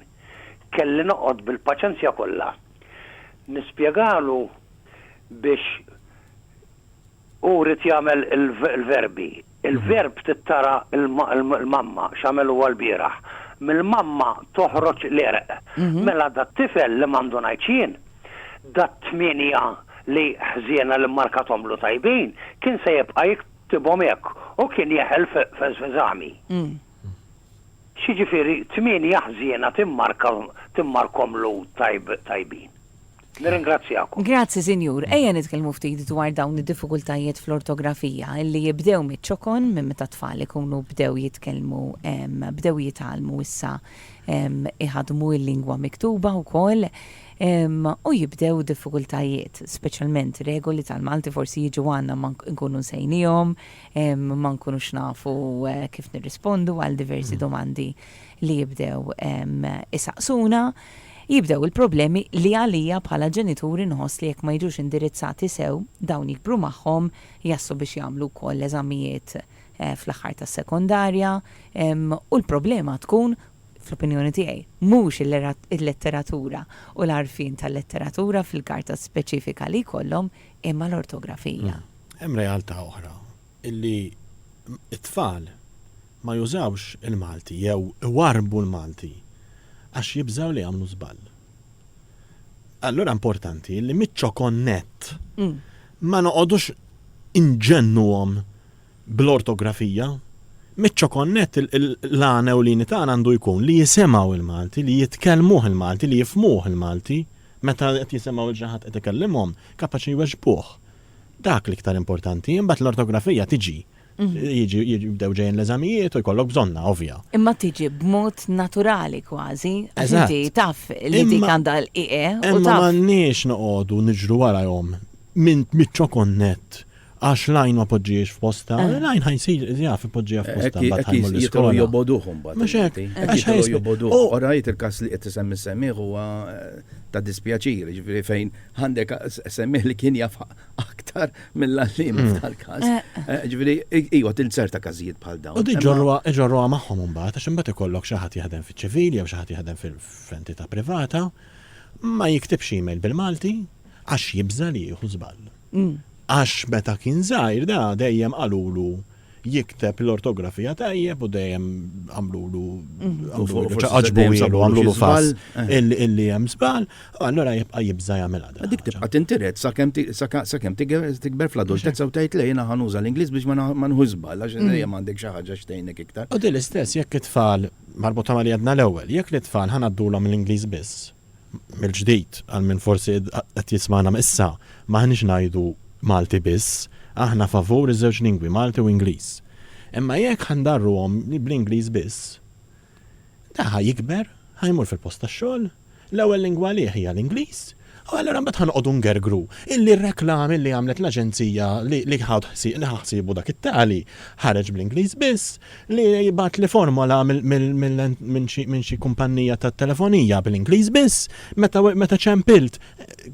[SPEAKER 4] kelli noqgħod bil-paċenzja kollha nispjegalu biex hu ried jagħmel il-verbi. Il-verb tittara l-mamma x'għamel huwa lbieraħ. Mill-mamma toħroġ l-għerq. Mela dat-tifel li m'għandu ngħid x'jien, dat-tmienja li ħżiena li mmarkathomlu tajbin, kien se jibqa' jiktibhom hekk u kien jeħel f'eżami. X'jiġifieri tmienja ħżiena timmarkhom l-għud tajbin? Nirringrazzjakom. Grazzi, Sinjur.
[SPEAKER 1] Ejja nitkellmu ftit dwar dawn id-diffikultajiet fl-ortografija li jibdew miċ-ċokon, minn meta t-tfal ikunu bdew jitkellmu, bdew jitgħallmu issa jħaddmu l-lingwa miktuba wkoll, u jibdew diffikultajiet, speċjalment regoli tal-Malti forsi jiġu għandna ma nkunu nsejniehom, ma nkunux nafu kif nirrispondu għal diversi domandi li jibdew isaqsuna. Jibdew il-problemi li għalija bħala ġenitur inħoss li jekk ma jiġux indirizzati sew, dawn jikbru magħhom, jaslu biex jagħmlu wkoll l-eżamijiet fl-aħħar tas-sekondarja u l-problema tkun, fl-opinjoni tiegħi, mhux il-letteratura u l-għarfien tal-letteratura fil-karta speċifika li jkollhom Imma l-ortografija. Hemm realtà
[SPEAKER 2] oħra illi t-tfal ma jużawx il-Malti jew iwarrbu l-Malti għax jibżgħu li jagħmlu żball. Allura importanti illi miċ-ċokon nett ma noqogħdux inġennuhom bl-ortografija. Miċ-ċokon nett l-għan ewlieni tagħna għandu jkun li jisimgħu l-Malti, li jitkellmuh il-Malti, li jifhmuh il-Malti. Meta qed jisimgħu lil xi ħadd qed ikellimhom, kapaċi jweġbuh. Dak l-iktar importanti, imbagħad l-ortografija tiġi. Jiġi jibdew ġejjin l-eżamijiet u jkollok bżonnha, ovvja. Imma tiġi b'mod
[SPEAKER 1] naturali kważi, għax inti taf li dik għandha l-ie u taf. Imma m'għandniex noqogħdu
[SPEAKER 2] niġru warahom minn miċ-ċokon nett Għax l-għajn ma poġġiex f'postha, eh. l-għajn ħajsir jaf ipoġġiha eh, f'postha eh, mbagħad ħajmur l-iskola. joboduhom bad. Mhux
[SPEAKER 3] hekk. Għax ħajsir
[SPEAKER 2] joboduhom.
[SPEAKER 3] Oh. Orajt il-każ li qed isemmi semmiħ huwa ta' dispjaċir, ġifieri fejn għandek semmiħ li kien jaf aktar mill-għallim hmm. tal-każ. Ġifieri iwa tilzer ta' każijiet bħal dawn. U diġorruha iġorruha magħhom
[SPEAKER 2] imbagħad għax imbagħad ikollok xi ħadd jaħdem fiċ-ċivili jew xi ħadd jaħdem fil-entità privata ma jiktibx email bil-Malti, għax jibża' li jieħu żball. Għax meta kien żgħir da dejjem qalulu jikteb l-ortografija tajjeb u dejjem għamlulu ċaqaġbu għamlulu fass eh. illi hemm żball, allura jibqa' jibża' jagħmilha. Dik tibqa' tintiret
[SPEAKER 3] sakemm tikber fl-adultezza u tgħid lejna ħanuża l-Ingliż biex ma nħu żball għax mm. dejjem għandek xi ħaġa xtejnek iktar. U din l-istess jekk
[SPEAKER 2] it-tfal marbuta ma li għadna l-ewwel, jekk l-tfal ħanaddulhom l-Ingliż biss mill-ġdid, għal min forsi qed jismagħna issa, m'aħniex ngħidu Malti biss, aħna favur iż-żewġ lingwi, Malti u Ingliż. Imma jekk ħa ndarruhom bl-Ingliż biss, da ħa jikber, ħa jmur fil-post tax-xogħol, l-ewwel lingwa għalih hija l-Ingliż, u allura mbagħad ħa noqogħdu ngergru illi r-reklami li għamlet l-aġenzija li ħa ħsiebu dak it-tali ħareġ bl-Ingliż biss, li jibgħatli formola minn xi kumpannija tat-telefonija bl-Ingliż biss, meta ċempilt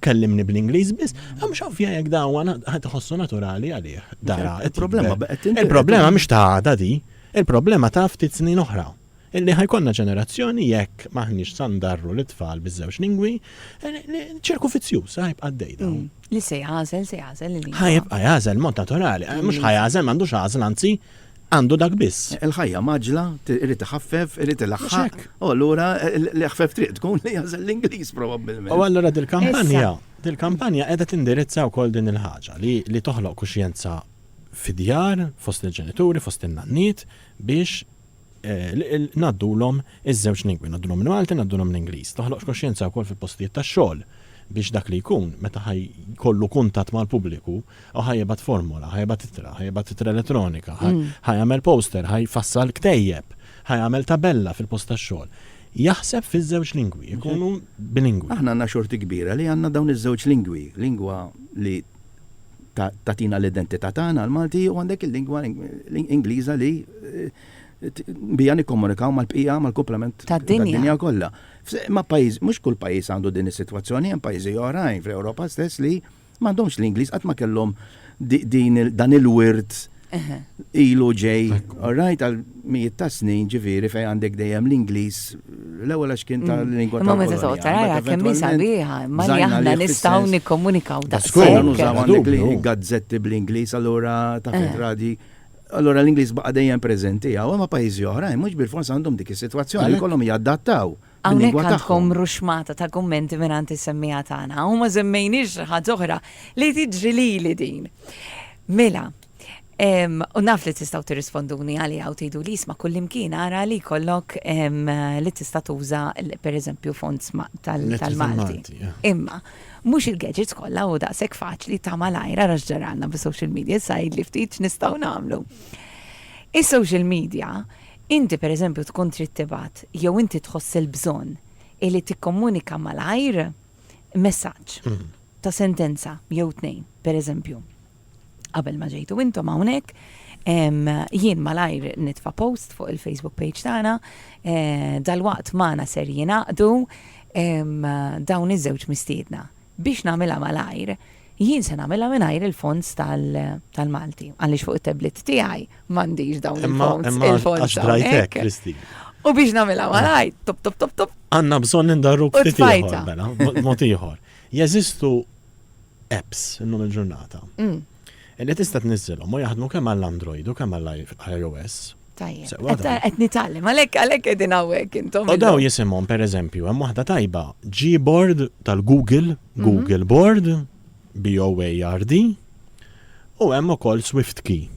[SPEAKER 2] kellimni bl-Ingliż biss, hemm x'ovvja jekk dawa ħadd iħossu naturali għalih. Dara, il-problema Il-problema mhix ta' għada di, il-problema ta' ftit snin oħra. Illi ħajkonna ġenerazzjoni jekk maħniex sandarru lit-tfal biż-żewġ lingwi, ċirku fizzjuż ħajbqa' għaddej dawn. Mm. Li se jagħżel,
[SPEAKER 1] se jagħżel il-lingwa. Ħajbqa' jagħżel mod
[SPEAKER 2] naturali, mhux ħajagħżel m'għandux għażel anzi Għandu dak biss. Il-ħajja mgħaġġla,
[SPEAKER 3] irid iħaffef, irid ilaħħaq. U allura
[SPEAKER 2] l-aħfef
[SPEAKER 3] triq tkun li jagħżel
[SPEAKER 2] l-Ingliż
[SPEAKER 3] probabbilment. U allura dil-kampanja,
[SPEAKER 2] dil-kampanja qiegħda tindirizza wkoll din il-ħaġa li toħloq kuxjenza fid-djar, fost il-ġenituri, fost in-nanniet biex ngħaddulhom iż-żewġ lingwi, ngħaddulhom il-Malti, ngħaddulhom l-Ingliż. Toħloq kuxjenza wkoll fil-postijiet tax-xogħol biex dak li jkun meta ħaj kollu kuntatt mal-pubbliku U ħa jibgħat formola, ħa jibgħat ittra, ħa jibgħat ittra elettronika, ħa mm. jagħmel poster, ħa jfassal ktejjeb, ħa jagħmel tabella fil-post tax-xogħol. Jaħseb fiż-żewġ lingwi, ikunu bilingwi. Aħna għandna xorti kbira
[SPEAKER 3] li għandna dawn iż-żewġ lingwi, lingwa li tatina l-identità tagħna l-Malti u għandek il-lingwa Ingliża li eh, bija nikkomunikaw mal-bqija mal-komplement tad-dinja kollha. Ma pajjiż, mhux kull pajjiż għandu din is-sitwazzjoni, hemm pajjiżi oħrajn fl-Ewropa stess li M'għandhomx l-Ingliż qatt ma kellhom dan il-wirt ilu ġej, all right, għal mijiet ta' snin ġifieri fejn għandek dejjem l-Ingliż l-ewwel għax kien tal-lingwa ta' Imma meta tara
[SPEAKER 1] kemm hi sabiħa, imma li aħna nistgħu nikkomunikaw daqshekk. Skola nużaw għandek
[SPEAKER 3] il-gazzetti bl-Ingliż allura taf il-gradi. Allura l-Ingliż baqa' dejjem preżenti hawn, imma pajjiżi oħrajn mhux bilfors għandhom dik is-sitwazzjoni jkollhom jadattaw. Hawnhekk għandkom
[SPEAKER 1] ruxxmata ta' kummenti mingħand is-semmiegħa tagħna u ma żemmejniex xi ħaġa oħra li tiġri lili din. Mela, U naf li tistaw tirrisponduni għali għaw tejdu li jisma kullimkien għara li kollok li tista tuża per eżempju font tal-Malti. Imma, mux il-gadgets kolla u daqsek faċli ta' malajra raġġaralna bi social media sajid li ftit nistaw namlu. Is-social media Inti pereżempju tkun trid tibgħat jew inti tħoss il-bżonn illi tikkomunika malajr messaġġ ta' sentenza jew tnejn, pereżempju, qabel ma ġejtu intom hawnhekk, jien malajr nitfa' post fuq il-Facebook page tagħna, dalwaqt magħna ser jingħaqdu dawn iż-żewġ mistiedna. Biex nagħmilha malajr, jien se nagħmilha mingħajr il-fonts tal-Malti, għaliex fuq it-tablet tiegħi m'għandix dawn il-fonts. Imma għax drajtek, Kristi.
[SPEAKER 2] U biex nagħmilha
[SPEAKER 1] malajr, top top top top. Għandna bżonn indarru
[SPEAKER 2] ftit ieħor, mela, mod ieħor. Jeżistu apps illum il-ġurnata. Mm. Illi tista' tniżżilhom u jaħdmu kemm għall-Android u kemm għall-iOS. Tajjeb. Sewa Qed
[SPEAKER 1] dawn. qed nitgħallem, għalhekk għalhekk qegħdin hawnhekk intom. U dawn illum. jisimhom
[SPEAKER 2] pereżempju, hemm waħda tajba, Gboard tal-Google, Google Board, B-O-A-R-D, u hemm ukoll SwiftKey,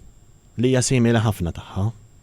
[SPEAKER 2] li hija simili ħafna tagħha.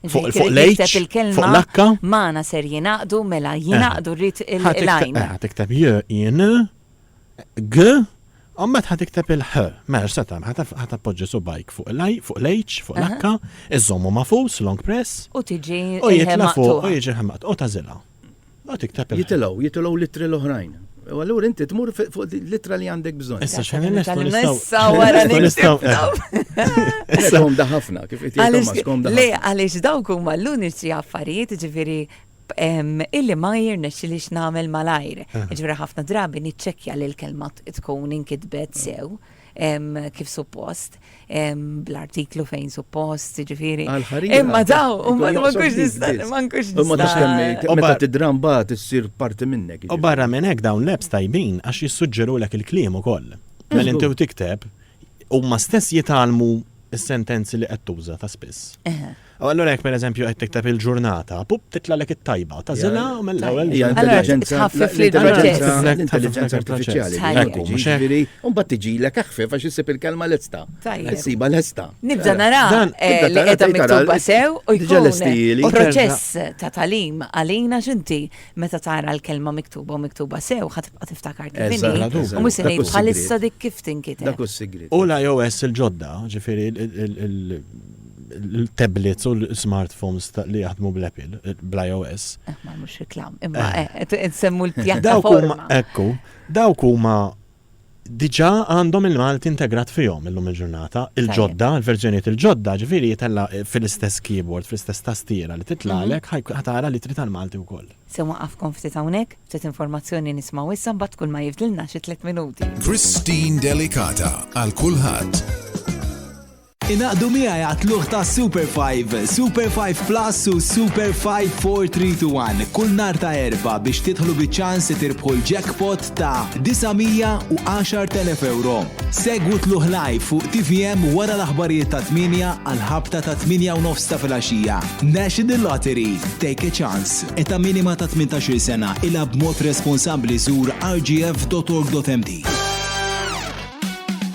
[SPEAKER 2] Fuq Ġifieri fuq li l-H, jikteb il-kelma fuq l-H. Magħna ser jingħaqdu
[SPEAKER 1] mela jingħaqdu rrid il- Ħa tikteb- l-għajn. eh, ħa tikteb j,
[SPEAKER 2] in, g, u mbagħad ħa tikteb il-ħ. Mela x'se tagħmel? Ħa taf- ħa tappoġġi subajk fuq l-I, fuq l-H, fuq l-H, iżommu magħfus, long press, U tiġi u il-ħe
[SPEAKER 1] jitla fuq u maqtuha.
[SPEAKER 2] jiġi ħemmat u tażilha. Mbagħad iktab il- Jitilgħu, jitilgħu l-ittri l-oħrajn.
[SPEAKER 3] U allura inti tmur fi- fuq di- l-ittra li għandek bżonn. Issa xħan Nitgħallem nistgħu
[SPEAKER 2] nistgħu. issa wara
[SPEAKER 1] Nistgħu nistgħu. nitibtaw. Issa
[SPEAKER 3] komda ħafna, kif qed jgħid Għaliex- Thomas, komda Le, ħafna. għaliex dawk huma
[SPEAKER 1] l-uniċi affarijiet ġifiri illi ma jirnexxi li x'nagħmel malajr. Ġifiri ħafna drabi niċċekkja li l-kelma t- tkun inkitbet sew. kif suppost, bl-artiklu fejn suppost, ġifiri. Imma daw, ma nkunx nistaqqa, ma nkunx nistaqqa. U bat id-dram
[SPEAKER 3] bat issir parti minnek. U barra minn hekk dawn
[SPEAKER 2] l-apps tajbin għax jissuġġeru l il-kliem ukoll. Mela inti tikteb, huma stess jitalmu s-sentenzi li qed tuża ta' spiss. U allura jekk pereżempju qed tikteb il-ġurnata, pup titlagħlek it-tajba, tażilha u mill-ewwel hija intelliġenza tħaffif li
[SPEAKER 3] l-intelliġenza artifiċjali. Ekku, mhux ġifieri, u mbagħad tiġilek aħfef għax issib il-kelma lesta. Issiba lesta. Nibda nara
[SPEAKER 1] li qiegħda miktuba sew u jkun proċess ta' talim għalina x'inti meta tara l-kelma miktuba u miktuba sew ħadd tibqa' tiftakar kif inhi u mhux se ngħid bħalissa dik kif tinkiteb. Dak hu s-sigriet. U
[SPEAKER 3] l-iOS il-ġodda,
[SPEAKER 2] ġifieri l-tablets u l-smartphones li jaħdmu bl-Apple, bl-iOS. Eh, ma mhux reklam,
[SPEAKER 1] imma eh. Eh, nsemmu l-pjattaforma. Ekku,
[SPEAKER 2] dawk huma diġa għandhom il-Malti integrat fihom illum il-ġurnata, il-ġodda, il-verġeniet il-ġodda, ġifiri jitella fil-istess keyboard, fil-istess tastiera li titlalek, mhm. ħatara li trid għal-Malti wkoll. Se waqafkom ftit
[SPEAKER 1] hawnhekk, ftit informazzjoni nismaw issa mbagħad kull ma jifdilna xi tliet minuti.
[SPEAKER 5] Christine
[SPEAKER 1] Delicata
[SPEAKER 5] għal
[SPEAKER 1] kulħadd.
[SPEAKER 5] Inaqdu miegħi għatluħ ta' Super 5, Super 5 Plus u Super 5 4321 kull nar ta' erba biex titħlu biċ-ċans li tirbħu l-jackpot ta' 910,000 euro. Segwu tluħ live fuq TVM wara l-aħbarijiet ta' 8 għal-ħabta ta' 8 u nofs ta' filgħaxija. National Lottery, take a chance. Eta minima ta' 18 sena, ilha b'mod responsabbli żur rgf.org.mt.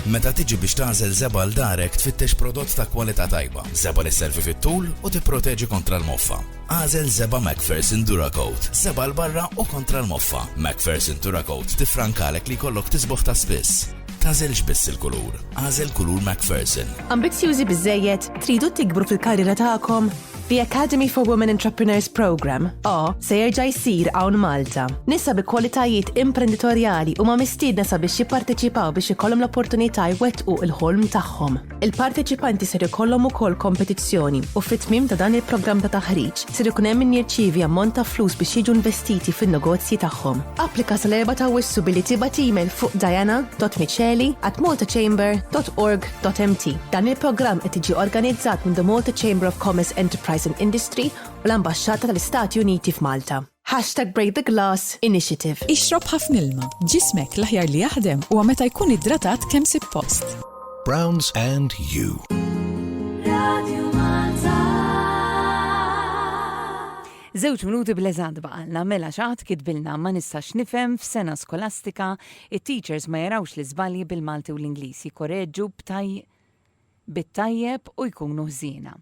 [SPEAKER 6] Meta tiġi biex tagħżel żebgħa l-darek tfittex prodott ta' kwalità tajba, żebgħa li sservi fit-tul u tipproteġi kontra l-moffa. Agħżel żebgħa Macpherson DuraCoat, żebgħa 'l barra u kontra l-moffa. Macpherson DuraCoat tiffrankalek li jkollok tisboħ ta' spiss. Tagħżilx biss il-kulur, agħżel kulur Macpherson. Ambizzjużi
[SPEAKER 7] biżżejjed? Tridu tikbru fil-karriera tagħkom? The Academy for Women Entrepreneurs Program, A, se jerġa' jsir hawn Malta. Nisa bi kwalitajiet imprenditorjali huma mistiedna sabiex jipparteċipaw biex ikollhom l-opportunità jwettqu l-ħolm tagħhom. Il-parteċipanti ser ikollhom ukoll kompetizzjoni u fit-tmiem ta' dan il-programm ta' taħriġ ser ikun hemm min jirċievi ammont ta' flus biex jiġu investiti fin-negozji tagħhom. Applika sal-erba' ta' Awwissu billi tibgħat email fuq diana.miceli@maltachamber.org Mt. Dan il-programm qed jiġi organizzat minn The Malta Chamber of Commerce Enterprise and Industry u l-Ambaxxata tal-Istati Uniti f'Malta. #BreakTheGlass Initiative. Ixrob ħafna ilma.
[SPEAKER 8] Ġismek l-aħjar li jaħdem huwa meta jkun iddratat kemm sippost. Browns
[SPEAKER 6] and you. Radio Malta.
[SPEAKER 1] Żewġ minuti bl-eżad baqalna mela xaħat kitbilna ma nistax nifhem f'sena skolastika It-teachers ma jarawx l-iżbalji bil-Malti u l-Ingliż, jikkoreġġu bit-tajjeb u jkunu ħżiena.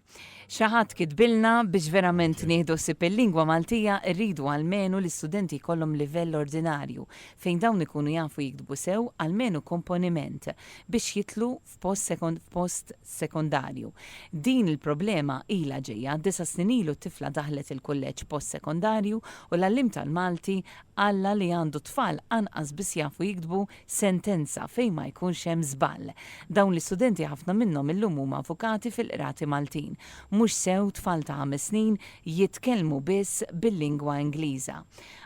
[SPEAKER 1] Xi ħadd kitbilna, Biex verament nieħdu ħsieb il-lingwa Maltija, irridu almenu li studenti jkollhom livell ordinarju, fejn dawn ikunu jafu jiktbu sew almenu komponiment biex jidħlu f'post sekondarju. Din il-problema ilha ġejja. Disa' snin ilu tifla daħlet il-kulleġġ post sekondarju u l-għalliem tal-Malti qalha li għandu tfal anqas biss jafu jiktbu sentenza fejn ma jkunx hemm żball. Dawn l-istudenti ħafna minnhom illum huma avukati fil-qrati Maltin. Mhux sew tfal ta' ħames snin jitkellmu biss bil-lingwa Ingliża.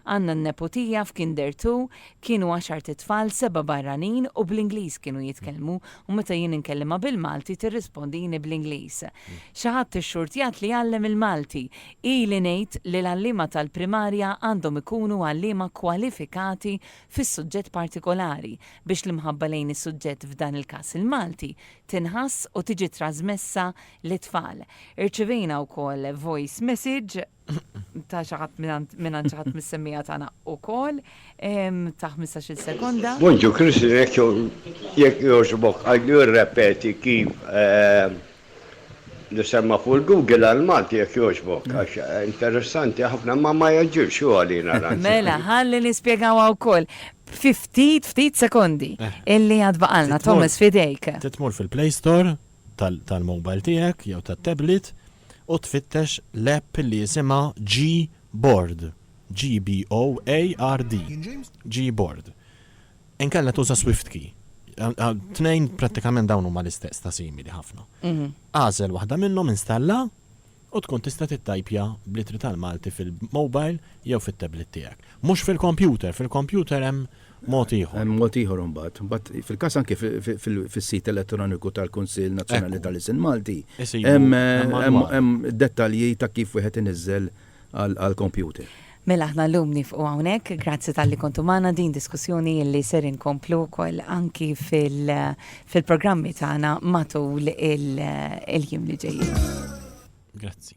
[SPEAKER 1] Għandna n-nepotija f'Kinder Two, kienu għaxart itfal, sebgħa barranin u bl-Ingliż kienu jitkellmu u meta jien inkellimha bil-Malti tirrispondini bl-Ingliż. Xi ħadd ixxurtjat li jgħallem il-Malti. Ili ngħid li l-għalliema tal-primarja għandhom ikunu għalliema kwalifikati fis-suġġett partikolari biex l-imħabba lejn is-suġġett f'dan il-każ il-Malti tinħass u tiġi trażmessa lit-tfal. Irċivejna wkoll voice message. ta' xaħat minn xaħat mis-semmija tagħna ukoll ta' 15-il sekonda. Bonġu Kristi
[SPEAKER 9] jekk jogħġbok għajdu rrepeti kif eh, li semma fuq il-Google għal Malti jekk jogħġbok għax eh, interessanti ħafna ma ma jaġġilx u għalina Mela, ħalli
[SPEAKER 1] nispjegaw wkoll ftit ftit sekondi eh. illi għad baqalna Thomas fidejk. Titmur fil-Play Store
[SPEAKER 2] tal-mobile tiegħek jew tat-tablet u tfittex l-app li jisimha Gboard, G-B-O-A-R-D, Gboard. Inkella tuża SwiftKey. Tnejn prattikament dawn huma l-istess ta' simili ħafna. Agħżel waħda minnhom, installha, u tkun tista' tittajpja bl-ittri tal-Malti fil-mobile jew fit-tablet tiegħek. Mhux fil-kompjuter, fil-kompjuter hemm mod ieħor. Hemm mod ieħor imbagħad.
[SPEAKER 3] Imbagħad fil-każ anke fis-sit elettroniku tal-Kunsill Nazzjonali tal-Isem Malti hemm dettalji ta' kif wieħed iniżżel għall-kompjuter. Mela aħna
[SPEAKER 1] llum nifqu hawnhekk, grazzi talli kontu magħna din diskussjoni li ser inkomplu wkoll anki fil-programmi tagħna matul il-jiem li ġejjin. Grazzi.